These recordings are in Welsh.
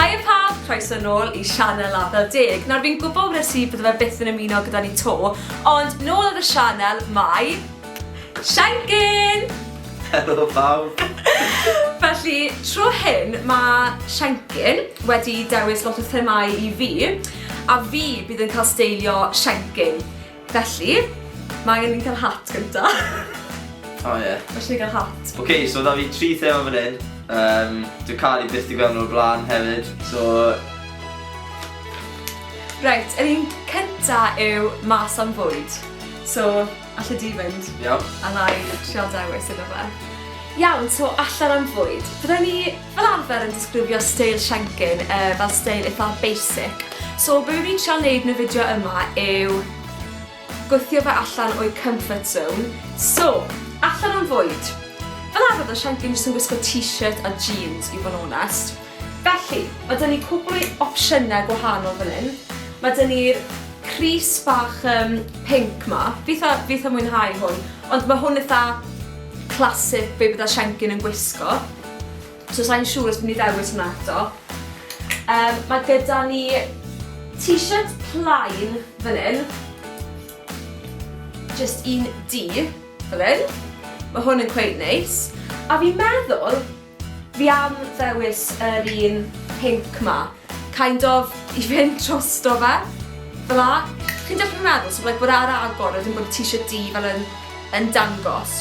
Hiya pawb, croeso nôl i sianel Afel Deg. Nawr fi'n gwybod wnes i bydde fe byth yn ymuno gyda ni to, ond nôl ar y sianel mae... Shankin! Helo pawb! Felly, tro hyn mae Shankin wedi dewis lot o themâu i fi, a fi bydd yn cael steilio Shankin. Felly, mae angen i ni cael hat gynta. O oh, ie. Yeah. Mae eisiau cael hat. Oce, okay, so da fi tri thema fan hyn. Um, Dwi'n cael ei byth i gweld nhw'r blaen hefyd, so... Reit, yr un cynta yw mas am fwyd. So, allai di fynd. Iawn. A na i trial dewis iddo fe. Iawn, so allan am fwyd. Byddai ni fel arfer yn disgrifio steil Shenkin yy fel steil eitha basic so be' fi'n trial neud yn y fideo yma yw gwthio fe allan o'i comfort zone. So, allan am fwyd! Fel arfer odd Shenkin jyst yn gwisgo t-shirt a jeans i fod yn onest. Felly, ma' 'da ni cwpwl o opsiyne gwahanol fan 'yn. Ma' 'da ni'r crys bach yym pinc 'ma, fi itha fi itha mwynhau hwn, ond ma' hwn itha classic be' bydda Shenkin yn gwisgo. So sa'n siŵr os fi'n i ddewis hwnna eto. Um, mae gyda ni t-shirt plain fan hyn. Just un di, fan hyn. Mae hwn yn cweud neis. A fi'n meddwl, fi am ddewis yr un pink ma. Kind of, i fynd trosto fe. Fel a, chi'n deall beth fi'n meddwl? So, like, bod ar agor, wedyn bod y t-shirt di fel yn, yn dangos.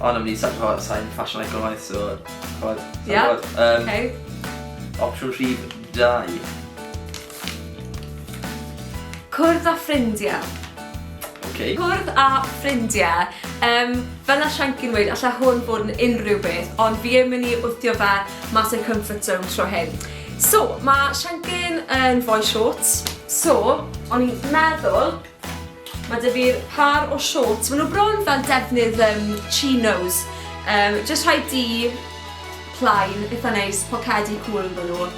O na fi sa- ch'mod sai'n ffasiwn economaidd so ch'mod sai'n Ia? gwbod. Yym. Ok. Opsiwn rhif dau. Cwrdd â ffrindiau. Ok. Cwrdd â ffrindiau. Yym fel nath Shancy'n weud alla hwn fod yn unrhyw beth ond fi yn myn' i wthio fe mas o'i comfort zone tro hyn. So ma' Shancy'n yn foi shorts so o'n i'n meddwl Mae dy fi'r par o shorts, maen nhw bron fel defnydd um, chinos. Um, just rhaid di plaen, eitha neis, pocedi cwl yn nhw.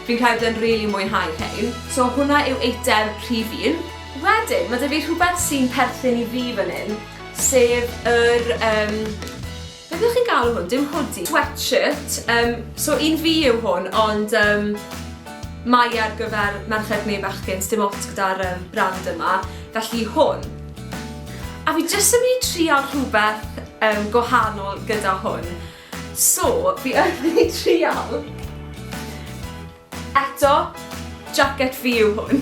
Fi'n credu yn rili really mwynhau rhain. So hwnna yw eitem rhif un. Wedyn, mae dy fi rhywbeth sy'n perthyn i fi fan hyn, sef yr um, Beth ydych chi'n galw hwn? Dim hoodie. Sweatshirt. Um, so un fi yw hwn, ond um, mae ar gyfer merched neu bechgyn, dim ots gyda'r um, brand yma. Felly hwn. A fi jyst yn mynd i trial rhywbeth um, gwahanol gyda hwn. So, fi yn mynd i trial. Eto, jacket fi yw hwn.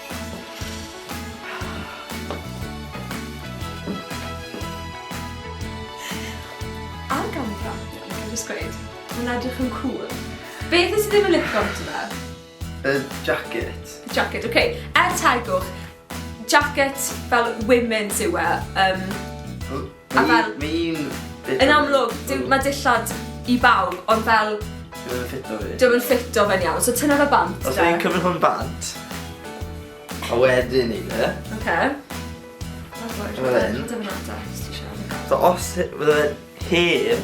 Ar gamera, allai jyst gweud, mae'n edrych yn cŵl. Beth nes i ddim yn lico ambiti fe? Y jacket. Y jacket, ok. Er tegwch, jacket fel women's yw e. Um... A fel... Mae un dillad... Yn amlwg, dim, mae dillad i bawb, ond fel... Dio'm yn ffito fi. Dio'm yn ffito fe'n iawn, so tynna fe bant de. Os fi'n cymryd hwn bant, a wedyn ni de. Oce. Fel hyn. So os fydde fe'n hen,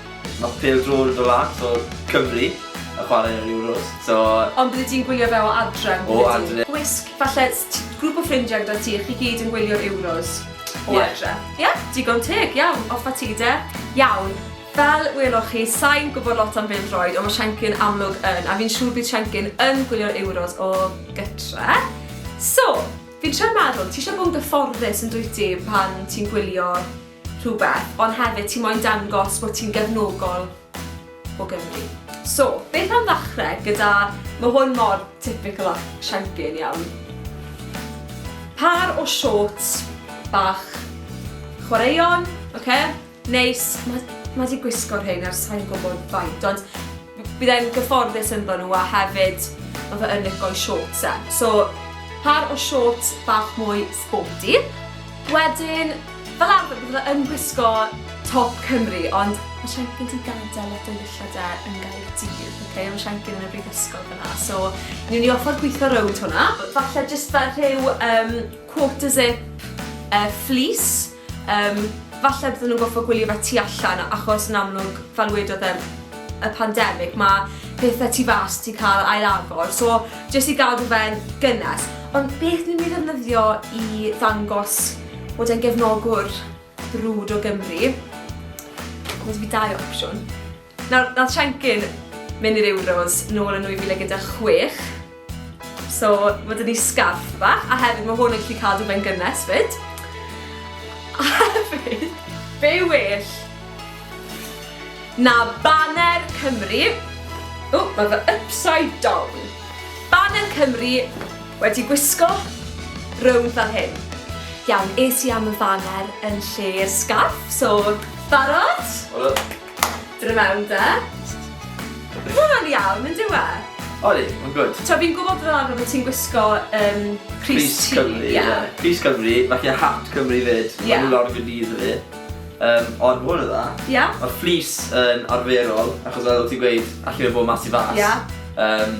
Nath pêl-droed y lads o Cymru yn chwarae yn yr Euros, so... Ond bydde ti'n gwylio fe o adre', yn bydde ti? O adre'. Gwisg, falle t- grŵp o ffrindiau gyda ti, chi gyd yn gwylio'r Euros o adre'. Ie. Ie, digon teg, iawn, off a ti de. Iawn, fel weloch chi, sai'n gwybod lot am bêl-droed, ond mae Siencyn amlwg yn, a fi'n siŵr bydd Siencyn yn gwylio'r Euros o gytre'. So, fi'n trio meddwl, ti eisiau bod yn gyfforddus yn dwyt ti pan ti'n gwylio rhywbeth, ond hefyd ti moyn dangos bod ti'n gefnogol o Gymru. So, beth am ddechrau gyda, mae hwn mor typical a shanky yn iawn, par o shorts bach chwaraeon, oce, neis, mae 'di gwisgo rhein ers sai'n gwybod faint, ond Byddai'n gyfforddus ynddo nhw a hefyd ma' fe yn lico'i shorts e. So pâr o shorts bach mwy sporty. Wedyn fel arfer bydde fe yn gwisgo top Cymru ond ma' Siencyn 'di gadel lot o'i ddillad e yn Gaerdydd ok ma' Siencyn yn y brifysgol fan'na so newn ni offer gwitho rownd hwnna. Falle jyst fel rhyw yym quarter zip yy fleece. Yym, falle bydden nhw'n gorfod gwylio fe tu allan achos yn amlwg, fel wedodd e, y pandemig, mae pethau tu fas wedi cael ail-agor, so jyst i gadw fe'n gynnes. Ond beth ni'n mynd i ddefnyddio i ddangos bod e'n gefnogwr brwd o Gymru? Wel, fi dau opsiwn. Nawr, nath Siencyn mynd i'r Euros nôl yn 2016, so mae dyn ni sgarff bach, a hefyd mae hwn yn gallu cadw fe'n gynnes fyd. A hefyd, be well na baner Cymru, o, mae fy upside down, baner Cymru wedi gwisgo rownd fel hyn. Iawn, es i am y faner yn lle'r sgarff, so barod? Barod. Dod i mewn de. Mae'n iawn, yn dyw e? Odi, mae'n gwrdd. Ta, fi'n gwybod fel arfer bod ti'n gwisgo um, Cris Cymru. Yeah. Cris Cymru, mae gen hat Cymru fyd. Yeah. Mae'n lawr gwneud iddo fi. Um, ond mwyn o dda. Yeah. Mae'r fflis yn arferol, achos oedd ti'n gweud, allu fe bod mas i fas. Yeah. Um,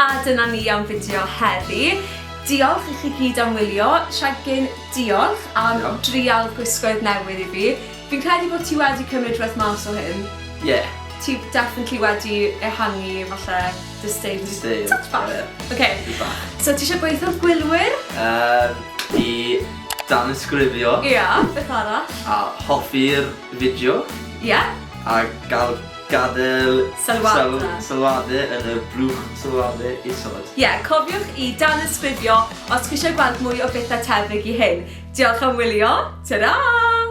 A dyna ni am fideo heddi. Diolch i chi gyd am wylio. Shagin, diolch am drial gwisgoedd newydd i fi. Fi'n credu bod ti wedi cymryd rhywbeth mas o hyn. Ie. Ti definitely wedi ehangu falle dy steil. Dy steil. Tipyn bach. Ie. Ok. Tipyn bach. So ti isio gweutho gwylwyr? Yym, fi danysgrifio. Ia, beth arall? A hoffi'r fideo. Ia. A ga'l Gadael sylwade yn y blwch sylwade isod. Ie, cofiwch i danysgrifio os chi eisiau gweld mwy o bethau tebyg i hyn. Diolch am wylio, tara!